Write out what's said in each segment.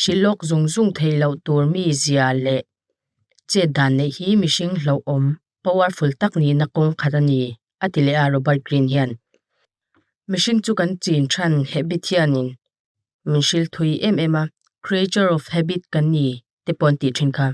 hrih lawk zung zung theih loh tur mi zia leh chet dan neih hi mihring hlauhawm powerful tak nihna kawng khat a ni, a ti leh a Robert Greene hian. Mihring chu kan chin than habit hianin min hrilhthui em em a, creature of habit kan ni te pawh an tih thin kha.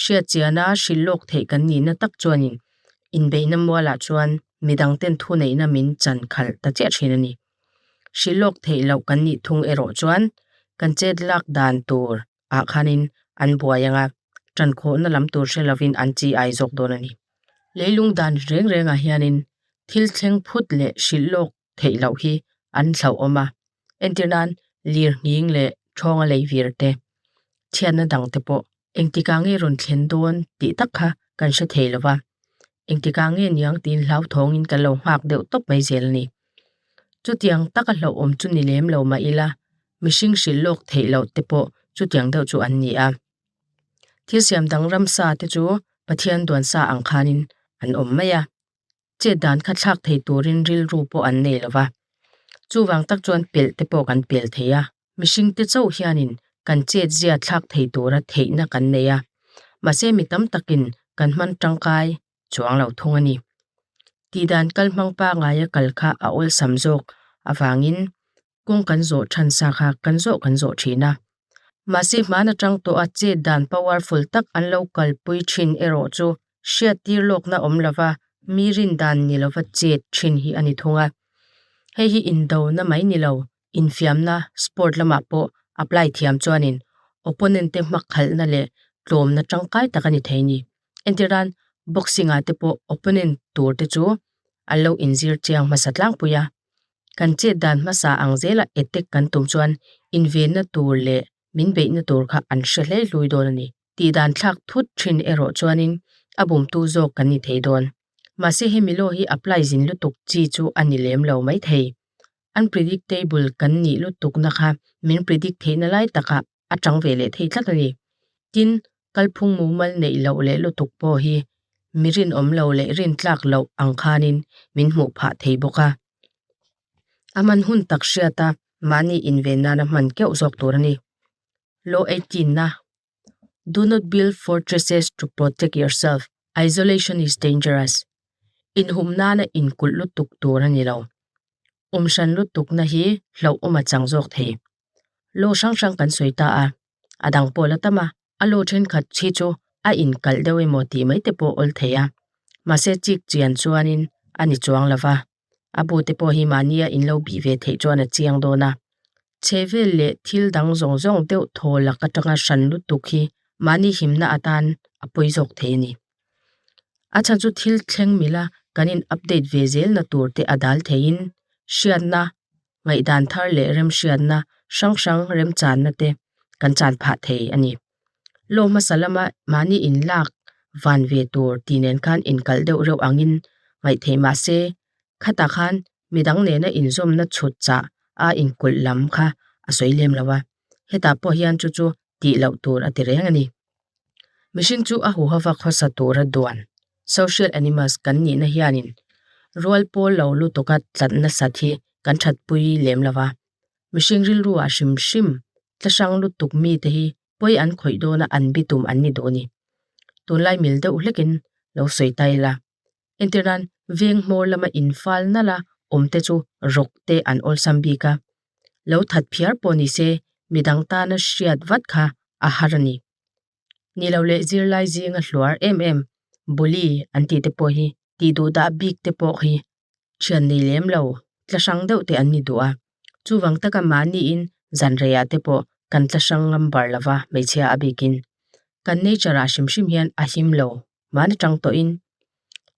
Hriat chiahna hrilh lawk theih kan nihna tak chuanin inbeihna mualah chuan mi dangten thuneihna min chan khalh ta chiah thin a ni. Hrilh lawk theih loh kan nih thung erawh chuan kan chet lak dan tur ah khanin an buai ang a, ṭan khawhna lam tur hre lovin an chi ai zawk dawn a ni. Leilung dan reng rengah hianin thil thleng phut leh hrilh lawk theih loh hi an hlauhawm a, entir nan lirnghing leh thawng a lei vir te, chhiatna dang te pawh engtika nge rawn thlen dawn tih tak kha kan hre thei lova, engtika nge niang tiin hlauthawngin kan lo nghak deuh tawp mai zel a ni. Chutiang taka hlauhawm chu ni lem lo mah ila, mihring hrilh lawk theih loh te pawh chutiang deuh chu an ni a. Thil siam dang ramsa te chu Pathian duansa ang khanin an awm mai a. chet dan kha thlak thei turin rilru pawh an nei lo va, chuvang tak chuan pelh te pawh kan pel thei a, mihring te chauh hianin kan chet zia thlak thei tura theihna kan nei a, mahse mi tam takin kan hman tangkai chuang lo thung a ni. Tihdan kal hmang pangaia kal kha a awlsam zawk avangin kawng kan zawh chhan sa kha kan zawh kan zawh thin a. Mahse hman atang tawh a chet dan powerful tak an lo kalpui thin erawh chu hriat tir lawkna awm lova mi rin dan ni lova chet thin hi a ni thung a. Hei hi indo na mai ni lo infiamna sport lamah pawh apply thiam chuanin opponent te hmak khalhna leh tlawmna tangkai tak a ni thei ni. Entir nan boxing ah te pawh opponent tur te chu an lo inzir chiang hmasa tlangpui a. Kan chet dan hmasa ang zela attack kan tum chuan invenna tur leh min beihna tur kha an hre hlei hlui dawn a ni. Tih dan thlak thut thin erawh chuanin a bumtu zawk kan ni thei dawn. Mahse hemi law hi apply zin lutuk chi chu a ni lem lo maithei. Unpredictable kan nih lutukna kha min predict theihna lai takah a chang ve leh thei tlat a ni. Tin, kalphung mumal neih loh leh lutuk pawh hi mi rinawm lo leh rintlak loh ang khanin min hmuh phah thei bawk a. A man hun tak hriata mahni inven nana hman keuh zawk tur a ni. Law eighteen a, Do not build fortresses to protect yourself, isolation is dangerous. Inhum nana inkulh lutuk tur a ni lo. Umhran lutukna hi hlauhawm a chang zawk thei. lo hrang hrang kan sawi ta a, a dang pawh la tam a, a lo thenkhat hi chu a inkalh deuh emaw tih mai te pawh awl thei a, mahse chik chian chuanin a ni chuang lo va, a bu te pawh hi mahnia in lo bih ve theih chuan a chiang dawn a, chhevel leh thil dang zawng zawng deuh thawlak atanga hran lutuk hi mahni himna atan a pawi zawk thei a ni. A chhan chu thil thleng mila kan in update ve zel na tur te a dal theiin hriatna ngaihdan thar leh remhriatna hrang hrang remchanna te kan chan phah thei a ni. Law hmasa lama mahni in lak van ve tur ti nen khan inkal deuh reuh angin ngaih thei mah se khata khan midang nena inzawmna chhut chah a inkulh lam kha a sawi lem lo a, hetah pawh hian chu chu tih loh tur a ti reng a ni. Mihring chu a huha va khawsa tura duan social animals kan nihna hianin rual pawl lo lutuka tlat nasat hi kan thatpui lem lo va. Mihring rilru ah hrim hrim tla hrang lutuk mi te hi pawi an khawih dawna an bitum an ni duh a ni. Tunlai mil deuh hlekin lo sawi ta ila. Entirnan veng hmawr lama infal nala awmte chu rawkte an awlsam bik a, lo that phiar pawh ni se midang tana hriat vat kha a har a ni. Ni lo leh zirlai zinga hluar em em, bully an tihte pawh hi tih duhdah bikte pawh hi thian nei lem lo, tla hrang deuh te an ni duh a, chuvang taka mahniin zanreiah te pawh kan tla hrang ngam bar lo va hmeichhia a bikin. Kan nature ah hrim hrim hian a him lo, mahna tang tawhin.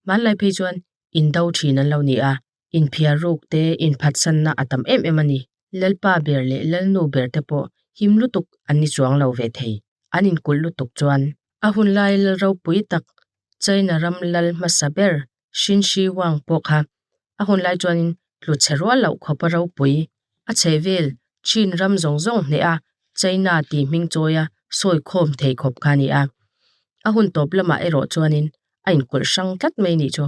Hmanlai phei chuan indo thin an lo ni a, inphiar ruk te inphatsanna a tam em em a ni. Lalpa ber leh lalnu ber te pawh him lutuk an ni chuang lo ve thei, an inkulh lutuk chuan. A hunlai lalropui tak China ram lal hmasa ber Hrin Hri Huang pawh kha a hun lai chuanin tlu chhe rual loh khawp a ropui. A chheh vel Chin ram zawng zawng hneh a China tih hming chawi a sawi khawm thei khawp kha a ni a. A hun tawp lamah erawh chuanin a inkawlh hrang tlat mai nih chu.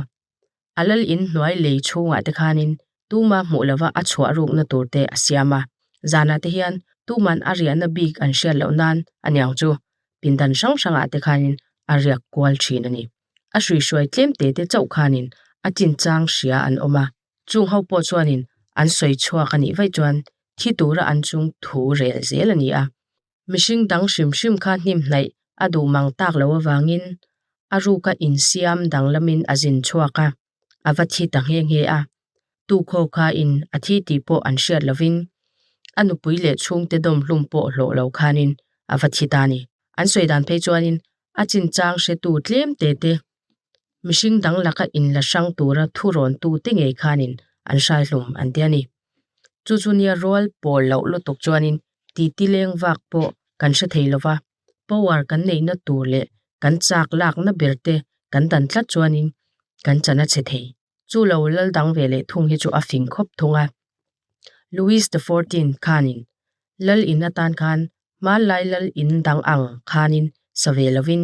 A lal in hnuai lei chhungah te khanin tuma hmuh lova a chhuah rukna tur te a siam a. Zanah te hian tuman a riahna bik an hriat loh nan aniang chu pindan hrang hrangah te khanin a riak kual thin a ni. a hrui hruai tlem te te chauh khanin a chinchang hria an awm a chung ho pawh chuanin an sawi chhuak a nih vaih chuan thi tura an chung thu rel zel a ni a mihring dang hrim hrim kha hniamhnaih a duh mang tak loh avangin a ruka insiam danglamin a zin chhuak a. a va thi ta nghe nghe a, tu khaw kha in a thi tih pawh an hriat lovin a nupui leh chhungte dawm hlum pawh hlawh lo khanin a va thi ta a ni. An sawi dan phei chuanin a chinchang hretu tlem te te, mihring dang laka in la hrang tura thu rawn tu te ngei khanin an hrai hlum an ti a ni. Chu chu nia rual pawl loh lutuk chuanin titi leng vak pawh kan hre thei lova. power kan neihna tur leh kan chak lakna ber te kan dan tlat chuanin kan chana chhe thei. Chu lo lal dang ve leh thung hi chu a fing khawp thung a. Louis the Fourteenth khanin lal in atan khan hmanlai lal in dang ang khanin sa ve lovin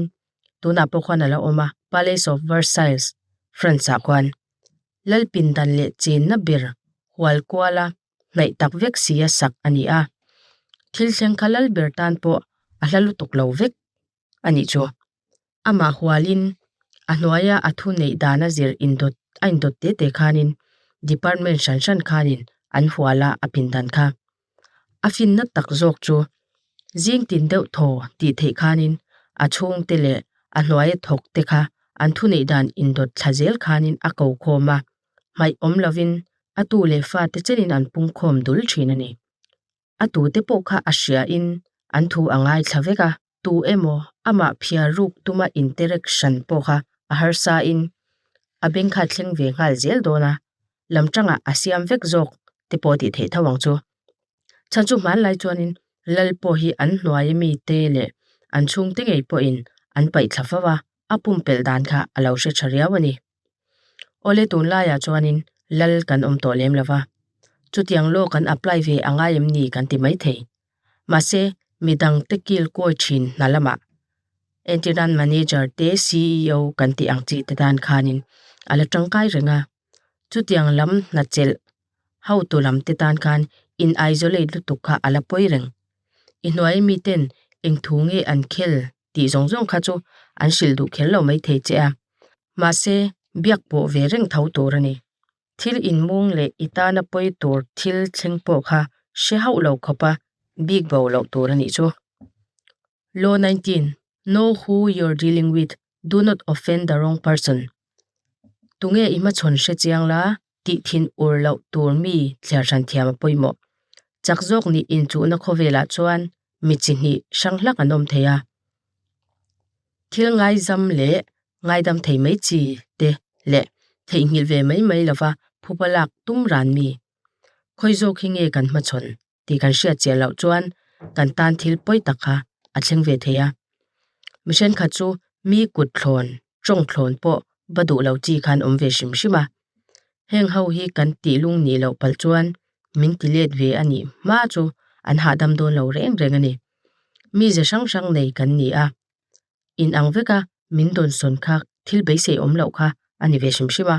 tunah pawh khan a la awm a, Palace of Versailles, France ah khan. Lal pindan leh chenna ber hual kuala hnaih tak vek si a sak a ni a, thil thleng kha lal ber tan pawh a hla lutuk lo vek a nih chu. Amah hualin a hnuaia a thu neih dana zir indawt a indawt te te khanin department hran hran khanin an hual a a pindan kha. A finna tak zawk chu zing tin deuh thaw tih theih khanin a chhungte leh a hnuaia thawkte kha an thuneih dan indawt thla zel khanin a kokhawm a. hmaih awm lovin a tu leh fa te chenin an pungkhawm dul thin a ni. A tute pawh kha a hriain an thu a ngaithla vek a, tu emaw amah phiar ruk tuma interaction pawh kha a harsain a beng kha a thleng ve nghal zel dawn a, lam tanga a siam vek zawk te pawh a tih theih tho ang chu. Chhan chu hmanlai chuanin lal pawh hi an hnuaia mite leh an chhungte ngei pawhin an paih thla fo a, a pumpelh dan kha a lo hre tha riau a ni. Awle tun laiah chuanin lal kan awm tawh lem lova, chutiang lawk kan apply ve a ngai em ni kan ti mai thei. Mahse, midang te kilkawi thin hna lamah entirnan manager te CEO kan tih ang chi te dan khanin a la tangkai reng a. Chutiang lam hna chelh hotu lam te tan khan in isolate lutuk kha a la pawi reng. I hnuai miten eng thu nge an khel tih zawng zawng kha chu an hrilh duh khelh lo mai thei che a, mahse biak pawh ve reng tho tur a ni. Thil inmung leh i tana pawi tur thil thleng pawh kha hre hauh lo khawp a, bik bo lo tur a nih chu. Law nineteen, Know who you're dealing with, do not offend the wrong person. Tunge i hmachhawn hre chiang la, tih thin ur loh tur mi thliar ṭhan thiam a pawimawh. Chak zawk nih inchuhna khawvelah chuan mi chi hnih hrang hlak an awm thei a, thil ngaizam leh ngaidam thei mai chi te leh theihnghilh ve mai mai lova phupa lak tum ran mi khawi zawk hi nge kan hmachhawn? tih kan hriat chiah loh chuan kan tan thil pawi tak kha a thleng ve thei a, mi hrenkhat chu mi kut thlawn tawng thlawn pawh va duh lo chi khan awm ve hrim hrim a, heng ho hi kan tih lung nih loh pal chuan min ti let ve a nih hma chu an hahdam dawn lo reng reng a ni, mi ze hrang hrang nei kan ni a. in ang vek a min dawn sawn kha thil beisei awm loh kha a ni ve hrim hrim a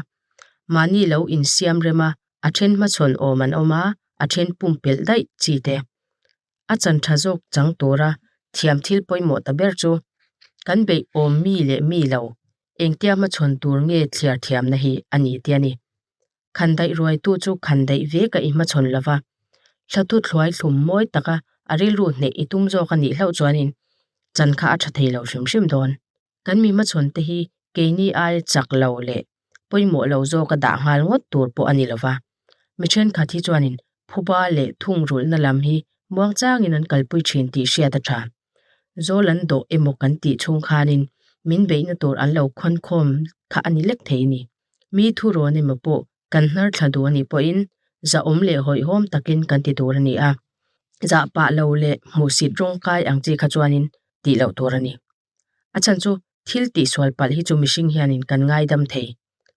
mahni lo in siam rem a a then hma chhawn awm an awm a a then pum pel daih chi te a chan tha zawk chang tura thiam thil pawimawh ta ber chu kan beih awm mi leh mi lo engtia hma chhawn tur nge thliar thiamna hi a ni tia ni. khan daih ruaitu chu khan daih ve ka i hmachhawn lo va, thla tut hluai thlum mawi taka a rilru hneh i tum zawk a nih hlauh chuanin chan kha a tha thei lo hrim hrim dawn. Kan mi hmachhawnte hi keini ai chak lo leh pawimawh lo zawka dah nghal ngawt tur pawh a ni lo va, mi thenkhat hi chuanin phuba leh thungrulhna lam hi muang changin an kalpui thin tih hriat a tha. Zawl an dawh emaw kan tih chhung khanin min beihna tur an lo khawnkhawm kha a ni lek thei a ni. Mi thu rawn emaw pawh kan hnarthla duh a nih pawhin zahawm leh hawihhawm takin kan ti tur a ni a, zah pah lo leh hmuhsit rawng kai ang chi kha chuanin tih loh tur a ni. A chhan chu thil tihsual palh hi chu mihring hianin kan ngaidam thei.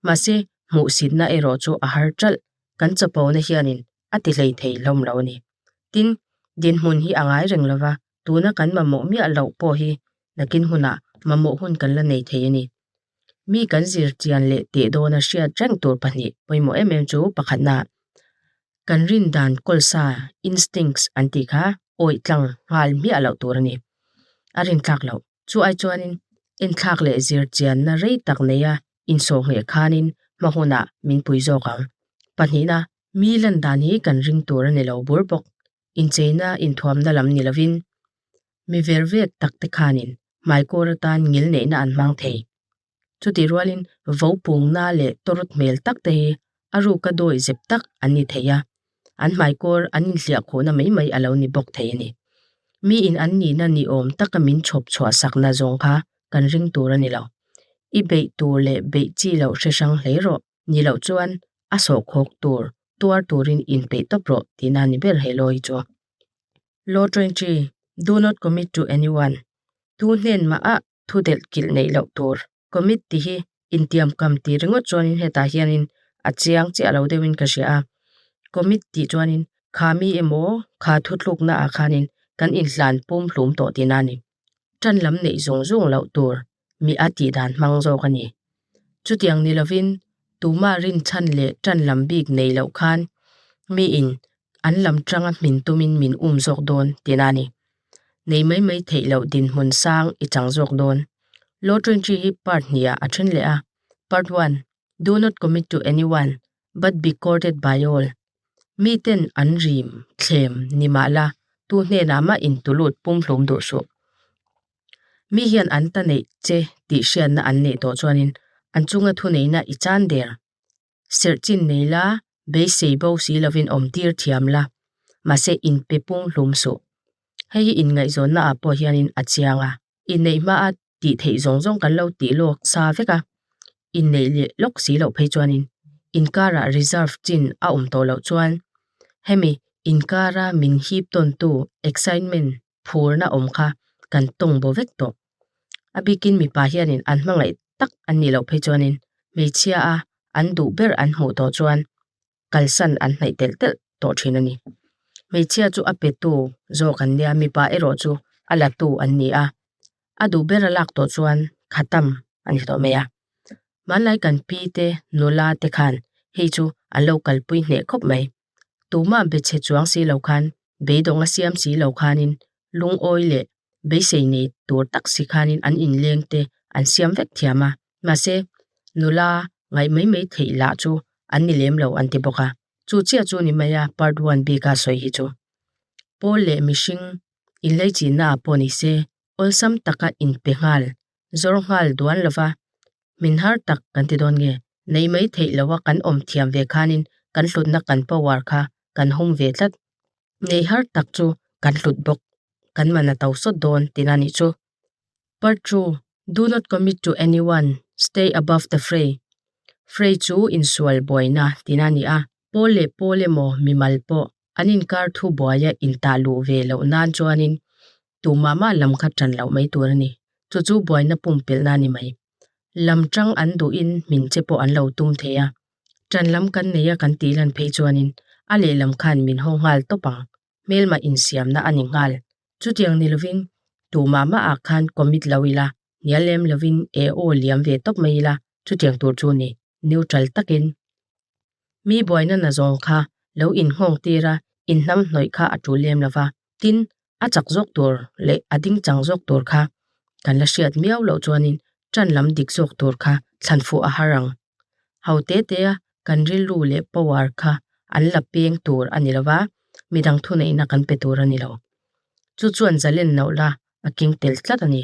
Mahse, hmuhsitna erawh chu a har ṭalh, kan chapona hianin a ti hlei thei hlawm lo a ni. Tin, dinhmun hi a ngai reng lova, tuna kan mamawh miah loh pawh hi nakin hunah mamawh hun kan la nei thei a ni. Mi kan zir tian leh teh dawn a hriat reng tur pahnih pawimawh em em chu pakhatna kan rindan kawlsa, instincts, an tih kha awih tlang nghal miah loh tur a ni. A rinthlak loh. Chuai chuanin enthlak leh zirchianna rei tak neia insawh ngheh khanin hma hunah min pui zawk ang. Pahnihna, mi landan hi kan ring tur a ni lo bur bawk. incheina inthuamna lam ni lovin mi ver vet tak te khanin hmaikawr atan ngil neihna an hmang thei. Chutih rualin vo pungna leh tawrut hmel tak te hi a ruka dawi zep tak an ni thei a, an hmaikawr an inhliah khawhna mai mai a lo ni bawk thei a ni. Mi in an nihna ni awm taka min chhawp chhuah sakna zawng kha kan ring tur a ni lo. I beih tur leh beih chi loh hrehrang hle rawh. ni loh chuan a sawhkhawk tur tuar turin inpeih tawp rawh tihna a ni ber he law hi chu. Law ṭawng chi, Do not commit to anyone, thu hnen mahah thu delh kilh neih loh tur, commit tih hi intiam kam tih ringawt chuanin hetah hianin a chiang chiah lo deuhin ka hria a, commit tih chuanin kha mi emaw kha thu tluknaah khanin kan inhlan pum hlum tawh tihna a ni. Ṭan lam neih zung zung loh tur miha tih dan hmang zawk a ni. Chutiang ni lovin tumah rinchhan leh tan lam bik nei loh khan miin an lam tanga hmin tumin min um zawk dawn tina a ni. Nei mai mai theih loh dinhmun sang i chang zawk dawn. Law Twenty hi Part hniha a then leh a, Part One, Do not commit to anyone but be courted by all. Miten an rim, thlem, ni mah la, tu hnenah mah in tu lut pumhlum duh suh. mi hian an ta neih che tih hriatna an neih tawh chuanin an chunga thuneihna i chan der serh chin nei la beisei bo si lovin awm tir thiam la mahse in pe pung hlum suh hei hi inngaihzawnna ah pawh hian a chiang a i neih hma a tih theih zawng zawng kan lo tih lawk sa vek a inneih leh lawk si loh phei chuanin inkarah reserve chin a awm tawh loh chuan hemi inkara min hip tawn tu excitement -- phurna awm kha kan tawng bo vek tawh. A bikin mipa hianin an hmangaih tak an nih loh phei chuanin hmeichhia a an duh ber an hmuh tawh chuan kalsan an hnaih telh telh tawh thin a ni. Hmeichhia chu a petu zawk an nia, mipa erawh chu a latu an ni a, a duh ber a lak tawh chuan khatam a ni tawh mai a. Hmanlai kan pi te, nula te khan hei chu an lo kalpui hneh khawp mai. Tumah bechhe chuang si lo khan, beidawng a siam si lo khanin, lungawi leh beisei nei tur tak si khanin an inleng te an siam vek thiam a. Mahse, nula ngaih mai mai theih lah chu an ni lem lo an ti bawk a. Chu chiah chu ni mai a part one bika sawi hi chu. Pawl leh mihring inlei chinna ah pawh nise awlsam taka inpe nghal zawr nghal duan lo va, min har tak kan ti dawn nge? Nei mai theih lo a kan awm thiam ve khanin kan hlutna kan power kha kan hum ve tlat. Nei har tak chu kan hlut bawk, kan man a to sawt dawn tina nih chu. Part two, Do not commit to anyone, stay above the fray. Fray chu insual buaina tina a ni a. Paul leh Paul emaw mimal pawh an inkar thu buaia intah luh ve loh nan chuanin tumah mah lam kha tan loh mai tur a ni. Chu chu buaina pumpelhna a ni mai. Lam chang an duhin hmin che pawh an lo tum thei a. Tan lam kan nei a kan tih lan phei chuanin a lehlam khan min haw nghal tawp ang. Hmelma insiamna a ni nghal. Chutiang ni lovin tumah mah ah khan commit loh ila, hnial lem lovin eaw liam ve tawp mai ila chutiang tur chu a ni. neutral takin mi buaina na zawng kha lo inhngawng tir a, inhnam hnawih kha a tul lem lo va. Tin, a chak zawk tur leh a ding chang zawk tur kha kan la hriat miau loh chuanin ṭan lam dik zawk tur kha thlan fuh a har ang. Hau te tea kan rilru leh power kha an la peng tur a ni lo va, midang thuneihna kan pe tur a ni lo. Chu chuan Zalen nauh la a keng tel tlat a ni.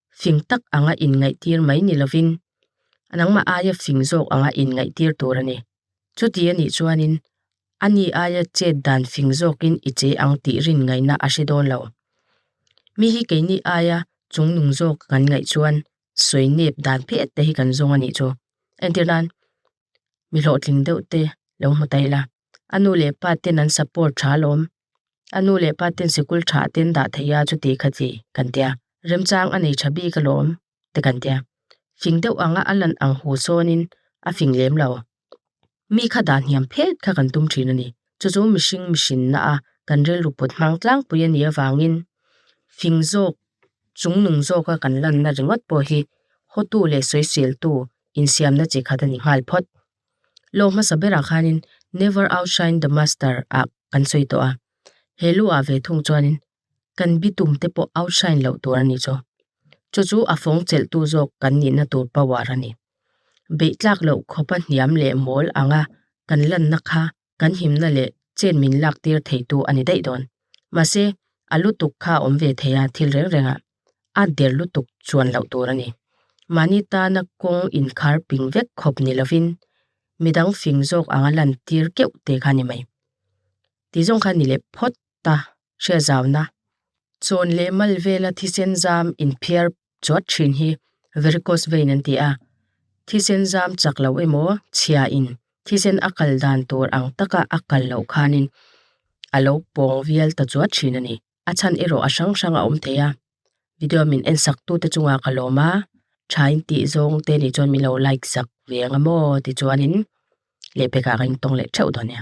fing tak anga inngaihtir mai ni lovin nangmah aia fing zawk anga inngaihtir tur a ni. Chuti a nih chuanin a ni aia chet dan fing zawkin i che ang tih rin ngaihna a hre dawn lo. Mi hi keini aia chung nung zawk kan ngaih chuan sawi nep dan phet te hi kan zawng a nih chu. Entir nan mi hlawhtling deuh te lo hmu ta ila, a nu leh pa ten an support tha alawm. A nu leh pa ten sikul tha a ten dah theih a chuti kha chi kan ti a, remchang a nei tha bik alawm te kan ti a, fing deuh ang a a lan ang hu sawnin a fing lem lo. Mi kha dah hniam phet kha kan tum thin a ni, chu chu mihring mihrinna a kan rilru put hmang tlangpui a nih avangin fing zawk chung nung zawka kan lanna ringawt pawh hi hotu leh sawisiltu insiamna chi khat a ni nghal phawt. Lâwm hmasa berah khânin Never outshine the master ah kan sawi tawh a, he lu ah ve thung chuanin kan bitum te pawh outshine loh tur a ni chu. Chu chu a fawng chelhtu zawk kan nihna tur power a ni. Beitlâk loh khawpa hniam leh mâwl anga kan lanna kha kan himna leh chet min lak tir theitu a ni daih dawn. Mahse, a lutuk kha a awm ve thei a, thil reng rengah a der lutuk chuan loh tur a ni. Mahni tana kawng inkhar ping vek khawp ni lovin, midang fing zawk anga lan tir keuh te kha a ni mai. Ti zawng kha ni leh phawt a hriat zau na. Chawn leh mal vela thisen zam inphiar chuat thin hi varicose vein an ti a, thisen zam chak loh emaw chhia in thisen a kal dan tur ang taka a kal loh khanin a lo pawng vial ta chuat thin a ni. A chhan erawh a hrang hrang a awm thei a, video min en sak tute chunga ka lawm a, tha in tih zawng te nih chuan min lo like zak ve ang e maw tichuanin lehpek ah ka intawng leh theuh dawn nia.